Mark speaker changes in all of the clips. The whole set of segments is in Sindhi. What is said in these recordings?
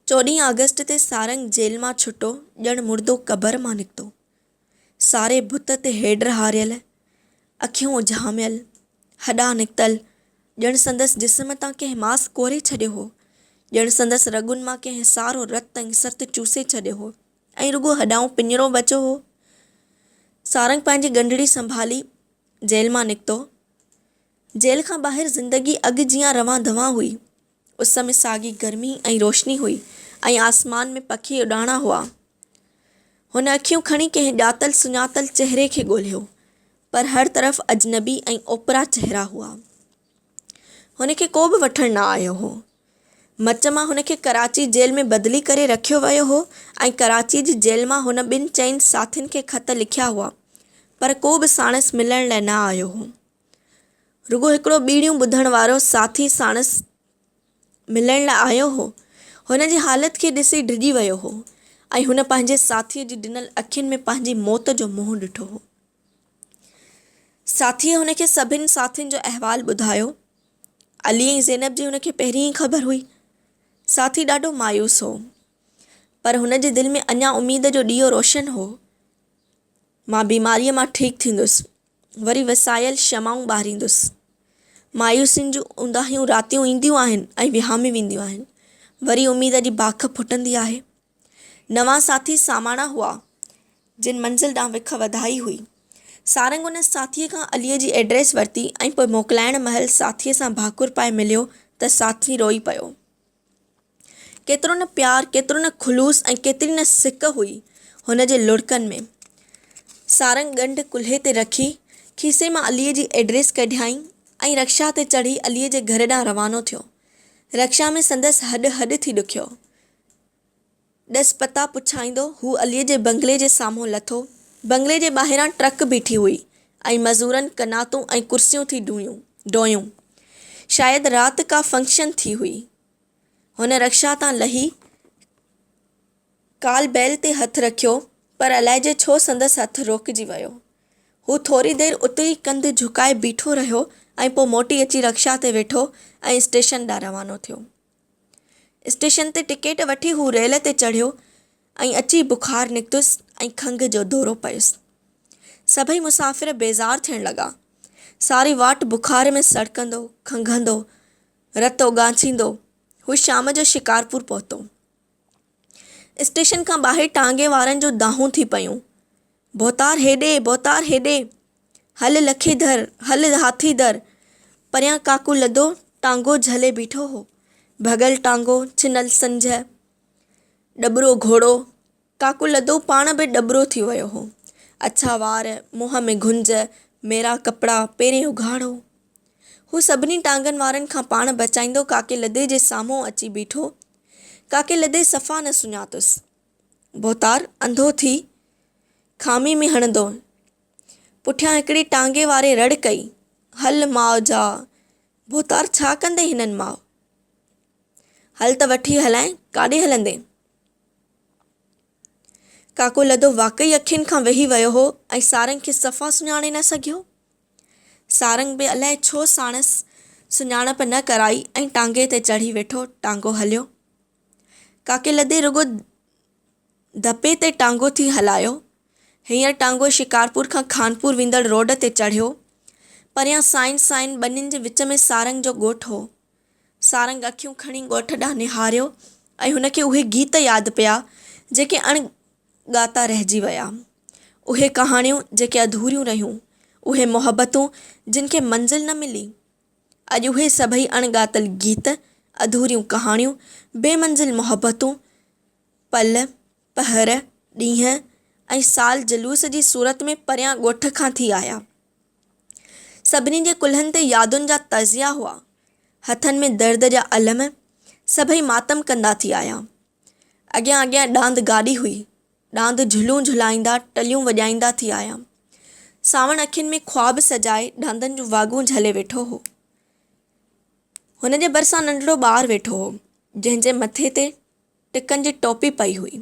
Speaker 1: چوڏهين آگسٽ تي سارنگ جيل مان ڇٽو، ڄڻ مردو قبر مان نڪتو. ساري بت تي هيڊر هاريل، اکيون اجهاميل، هڏا نڪتل، ڄڻ سندس جسم تان ڪنهن ماس ڪوري ڇڏيو هو، ڄڻ سندس رڳن مان ڪنهن سارو رت ۽ سرت چوسي ڇڏيو هو ۽ رڳو هڏائون پڃرو بچو هو. سارنگ پنهنجي ڳنڍڙي سنڀالي جيل مان نڪتو. جيل کان ٻاهر زندگي اڳ جيان روان دوان هئي. اس ۾ ساڳي گرمي ۽ روشني هئي ۽ آسمان ۾ پکي اڏاڻا هئا. هن اکيون کڻي ڪنهن ڄاتل سڃاتل چهري کي ڳولهيو، پر هر طرف اجنبي ۽ اوپرا چهرا هئا. هن کي ڪو به وٺڻ نه آيو هو. مچ مان هن کي ڪراچي جيل ۾ بدلي ڪري رکيو ويو هو ۽ ڪراچي جي جيل مان هن ٻن چئن ساٿين کي خط لکيا هئا، پر ڪو به ساڻس ملڻ لاء نه آيو هو. رڳو هڪڙو ٻيڙيون ٻڌڻ وارو ساٿي ساڻس ملڻ لاء آيو هو. هن جي حالت کي ڏسي ڊڄي ويو هو ۽ هن پنهنجي ساٿيء جي ڊنل اکين ۾ پنهنجي موت جو منهن ڏٺو هو. ساٿيء هن کي سڀني ساٿين جو احوال ٻڌايو. علي ۽ زينب جي هن کي پهرين ئي خبر هئي. ساٿي ڏاڍو مايوس هو. پر هن جي دل ۾ اڃا اميد جو ڏيئو روشن هو. مان بيماريء مان ٺيڪ ٿيندس. وري وسايل شمعون ٻاريندس. مايوسين جون اونداهيون راتيون اينديون آهن ۽ وهامي وينديون آهن. وري اميد جي باک ڦٽندي آهي. نوان ساٿي ساماڻا هئا، جن منزل ڏانهن وک وڌائي هئي. سارنگ ان ساٿيء کان عليء جي ايڊريس ورتي ۽ پوء موڪلائڻ مهل ساٿيء سان ڀاڪر پائي مليو ته ساٿي روئي پيو. ڪيترو نه پيار، ڪيترو نه خلوص ۽ ڪيتري نه سڪ هئي هن جي لڙڪن ۾. سارنگ ڳنڍ ڪلهي تي رکي، کيسي مان عليء جي ايڊريس ڪڍيائين ۽ رڪشا تي چڙهي عليء جي گهر ڏانهن روانو ٿيو. رڪشا ۾ سندس هڏ هڏ ٿي ڏکيو. ڏس پتا پڇائيندو هو عليء جي بنگلي جي سامهون لٿو. بنگلي جي ٻاهران ٽرڪ بيٺي هئي ۽ مزورن قناتون ۽ ڪرسيون ٿي ڊويون. شايد رات ڪا فنڪشن ٿي هئي. هن رڪشا تان لهي ڪال بيل تي هٿ رکيو پر الائجي ڇو سندس هٿ روڪجي ويو. هو ٿوري دير اتي ئي ڪنڌ جهڪائي بيٺو رهيو ۽ پوء موٽي اچي رڪشا تي ويٺو ۽ اسٽيشن ڏانهن روانو ٿيو. اسٽيشن تي ٽڪيٽ وٺي هو ريل تي چڙهيو ۽ اچي بخار نڪتس ۽ کنگهه جو دورو پيس. سڀئي مسافر بيزار ٿيڻ لڳا. ساري واٽ بخار ۾ سڙڪندو، کنگهندو، رت اوڳاڇيندو هو شام جو شڪارپور پهتو. اسٽيشن کان ٻاهر ٽانگي وارن جون دانهون ٿي پيون، ڀوتار هيڏي، ڀوتار هيڏي، هل لکي ڌر، هل هاٿي ڌر. پريان ڪاڪو لڌو ٽانگو جهلي بيٺو هو، ڀڳل ٽانگو، ڇنل سنجهه، ڏٻرو گهوڙو، ڪاڪو لڌو پاڻ به ڏٻرو ٿي ويو هو. اڇا وار، منهن ۾ گهنج، ميرا ڪپڙا، پيرين اگهاڙو. هو سڀني ٽانگن وارن کان پاڻ بچائيندو ڪاڪي لڌي جي سامهون اچي بيٺو. ڪاڪي لڌي صفا نه سڃاتس. ڀوتار انڌو ٿي کامي ۾ هڻندو پٺيان هڪڙي ٽانگي واري رڙ ڪئي، هل ماء جا! ڀوتار ڇا ڪندين هنن ماء! هل ته وٺي هلانء، ڪاڏي هلندين؟ ڪاڪو لڌو واقعي اکين کان وهي ويو هو ۽ سارنگ کي صفا سڃاڻي نه سگهيو. سارنگ به الائي ڇو ساڻس سڃاڻپ نه ڪرائي ۽ ٽانگي تي چڙهي ويٺو ٽانگو هليو. ڪاڪي لڌي رڳو ڌپي تي ٽانگو ٿي هلايو. هينئر ٽانگو شڪارپور کان خانپور ويندڙ روڊ تي چڙهيو. پريان سائين سائين ٻنين جي وچ ۾ سارنگ جو ڳوٺ هو. سارنگ اکيون کڻي ڳوٺ ڏانهن نهاريو ۽ هن کي اهي گيت ياد پيا، جيڪي اڻ ڳاتا رهجي ويا. اهي ڪهاڻيون جيڪي اڌوريون رهيون، اهي محبتون جن کي منزل نه ملي. اڄ اهي سڀئي اڻ ڳاتل گيت، اڌوريون ڪهاڻيون، بي منزل محبتون، پل، پهر، ڏينهن ۽ سال جلوس جي صورت ۾ پريان ڳوٺ کان ٿي آيا. سڀني جي ڪلهن تي يادن جا تعزيا هئا، هٿن ۾ درد جا علم، سڀئي ماتم ڪندا ٿي آيا. اڳيان اڳيان ڏاند گاڏي هئي، ڏاند جهلون جهلائيندا، ٽليون وڄائيندا ٿي آيا. سانوڻ اکين ۾ خواب سجائي ڏاندن جون واڳون جهلي ويٺو هو. هن جي ڀرسان ننڍڙو ٻار ويٺو هو، جنهن جي مٿي تي. ٽڪن جي ٽوپي پئي هئي.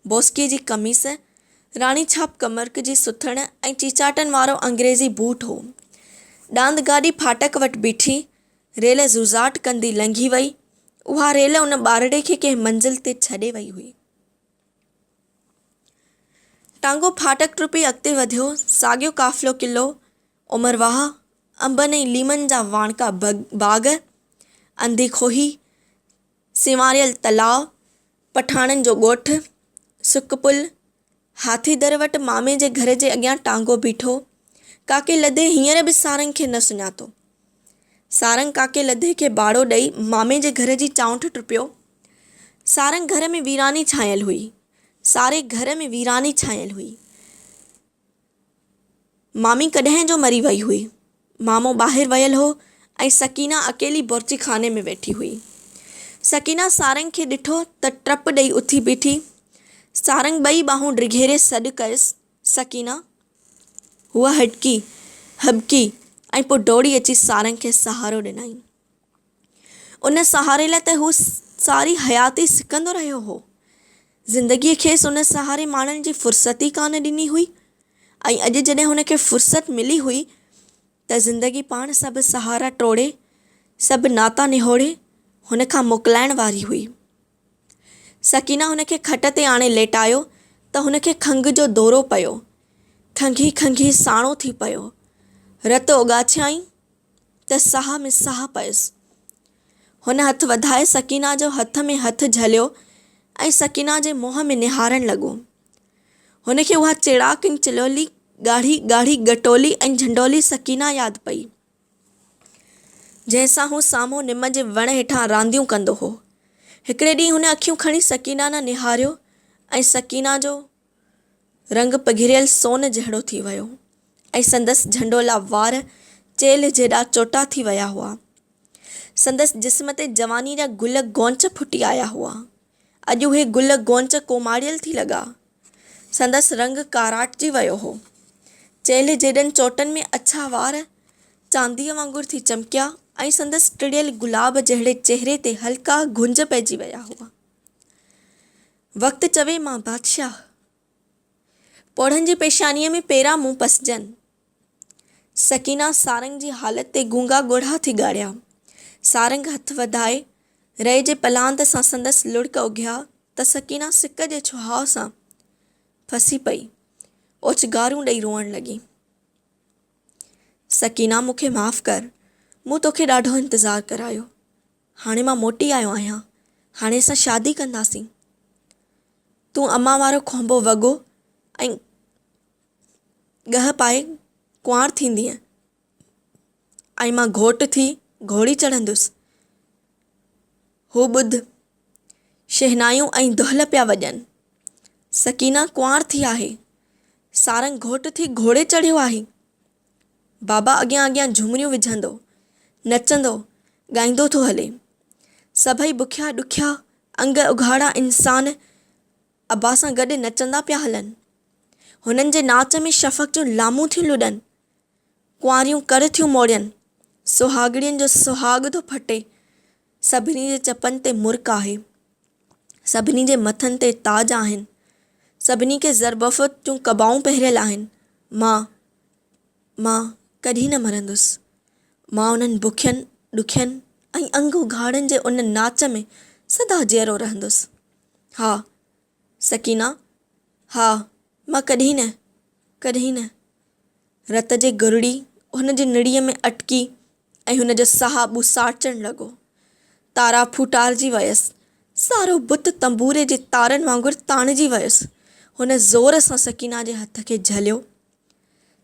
Speaker 1: بوسڪيء جي قميص، راڻي ڇاپ ڪمرڪ جي سٿڻ ۽ چيچاٽن وارو انگريزي بوٽ هو. ڏاند گاڏي ڦاٽڪ وٽ بيٺي، ريل زوزاٽ ڪندي لنگهي وئي. اها ريل ان ٻارڙي کي ڪنهن منزل تي ڇڏي وئي هئي. ٽانگو ڦاٽڪ ٽپي اڳتي وڌيو، ساڳيو قافلو قلعو، عمر واهه، انبن ۽ ليمن جا واڻڪا باغ، انڌي کوهي، سنواريل تلاء، پٺاڻن جو ڳوٺ، سڪ پل، هاٿي در وٽ مامي جي گهر جي اڳيان ٽانگو بيٺو، ڪاڪي لڌي هينئر به سارنگ کي نه سڃاتو. سارنگ ڪاڪي لڌي کي ٻاڙو ڏئي مامي جي گهر جي چانئٺ ٽپيو. سارنگ گهر ۾ ويراني ڇانيل هئي. ساري گهر ۾ ويراني ڇانيل هئي. مامي ڪڏهن جو مري وئي هئي. مامو ٻاهر ويل هو ۽ سڪينه اڪيلي بورچي خاني ۾ ويٺي هئي. سڪينه سارنگ کي ڏٺو ته ٽپ ڏئي اٿي بيٺي. سارنگ ٻئي ٻانهون ڊگهيري سڏ ڪيس، سڪينه! هوء هڏڪي، هٻڪي ۽ پوء ڊوڙي اچي سارنگ کي سهارو ڏنائين. ان سهاري لاء ته هو ساري حياتي سڪندو رهيو هو. زندگيء کيس ان سهاري ماڻڻ جي فرصت ئي ڪانه ڏني هئي ۽ اڄ جڏهن هن کي فرصت ملي هئي ته زندگي پاڻ سڀ سهارا ٽوڙي، سڀ ناتا نهوڙي هن کان موڪلائڻ واري هئي. سڪينه هن کي کٽ تي آڻي ليٽايو ته هن کي کنگهه جو دورو پيو. کنگهي کنگهي ساڻو ٿي پيو. رت اوڳاڇيائين. ته ساهه ۾ ساهه پيس. هن هٿ وڌائي سڪينه جو هٿ ۾ هٿ جهليو ۽ سڪينه جي منهن ۾ نهارڻ لڳو. هن کي اها چيڙاڪ ۽ چلولي ڳاڙهي ڳاڙهي ڳٽولي ۽ جهنڊولي سڪينه ياد پئي، جنهن سان هو سامهون نم جي وڻ هيٺان رانديون ڪندو هو. هڪڙي ڏينهن هن اکيون کڻي سڪينه نه نهاريو ۽ سڪينه جو. رنگ پگهريل سون جهڙو ٿي ويو ۽ سندس جهنڊولا وار چيلهه جيڏا چوٽا ٿي ويا هئا. سندس جسم تي جواني جا گل غونچ ڦٽي آيا هئا. اڄ اهي گل غونچ ڪوماڙيل ٿي لڳا. سندس رنگ ڪاراٽجي ويو هو. چيلهه جيڏن چوٽن ۾ اڇا وار چانديء وانگر ٿي چمڪيا ۽ سندس ٽڙيل گلاب جهڙي چهري تي هلڪا گهنج پئجي ويا هئا. وقت چوي مان بادشاهه، پوڙهن جي پيشانيء ۾ پيرا مون پسجن. سڪينه سارنگ جي حالت تي گونگا ڳوڙها ٿي ڳاڙيا. سارنگ هٿ وڌائي، رئي جي پلاند سان سندس لڙڪ اگهيا ته سڪينه سڪ جي ڇهاء سان ڦسي پئي. اوچگارون ڏئي روئڻ لڳي. سڪينه مون کي معاف ڪر، مون توکي ڏاڍو انتظار ڪرايو. هاڻي مان موٽي آيو آهيان، هاڻي اسان شادي ڪنداسين. تون امان وارو کهنبو وڳو ۽ ڳهه پائي ڪنوار ٿيندينء ۽ مان گهوٽ ٿي گهوڙي چڙهندس. هو ٻڌ، شهنايون ۽ دهل پيا وڄن. سڪينه ڪنوار ٿي آهي. سارنگ گهوٽ ٿي گهوڙي چڙهيو آهي. بابا اڳيان اڳيان جهومريون وجهندو، نچندو، ڳائيندو ٿو هلي. سڀئي بکيا ڏکيا انگ اگهاڙا انسان ابا سان گڏ نچندا پيا هلن. هنن جي ناچ ۾ شفق جون لامون ٿيون لڏن، ڪنواريون ڪر ٿيون موڙين، سهاڳڻين جو سهاڳ ٿو ڦٽي. سڀني جي چپن تي مرڪ آهي. سڀني جي مٿن تي تاج آهن. سڀني کي زربفت جون قبائون پهريل آهن. مان، مان ڪڏهن نه مرندس. مان انهن بکين، ڏکين ۽ انگ اگهاڙن جي ان ناچ ۾ سدا جيئرو رهندس. ها! سڪينه، ها، مان ڪڏهن نه، ڪڏهن نه. رت جي گرڙي هن جي نڙيء ۾ اٽڪي ۽ هن جو ساهه ٻوساٽجڻ لڳو. تارا ڦوٽارجي ويس. سارو بت تنبوري جي تارن وانگر تاڻجي ويس. هن زور سان سڪينه جي هٿ کي جهليو.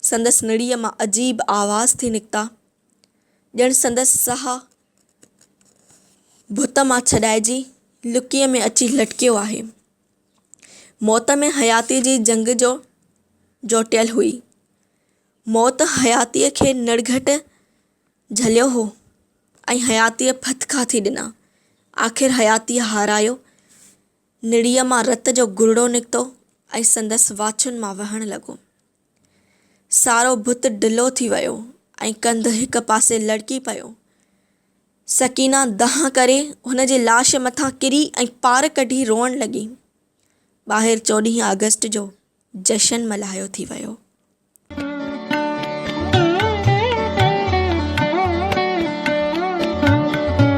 Speaker 1: سندس نڙيء مان عجيب آواز ٿي نڪتا. ڄڻ سندس ساهه ڀت مان ڇڏائجي لڪيء ۾ اچي لٽڪيو آهي. موت ۾ حياتيء جي جنگ جو جوٽيل هئي. موت حياتيء کي نڙگهٽ جهليو هو ۽ حياتيء ڦٿڪا ٿي ڏنا. آخر حياتيء هارايو، نڙيء مان رت جو گرڙو نڪتو ۽ سندس واڇن مان وهڻ لڳو. سارو بت ڍلو ٿي ويو ۽ ڪنڌ هڪ پاسي لڙڪي پيو. سڪينه دانهن ڪري هن جي لاش مٿان ڪري ۽ پار ڪڍي روئڻ لڳي. ٻاهر چوڏهين آگسٽ جو جشن ملهايو ٿي ويو.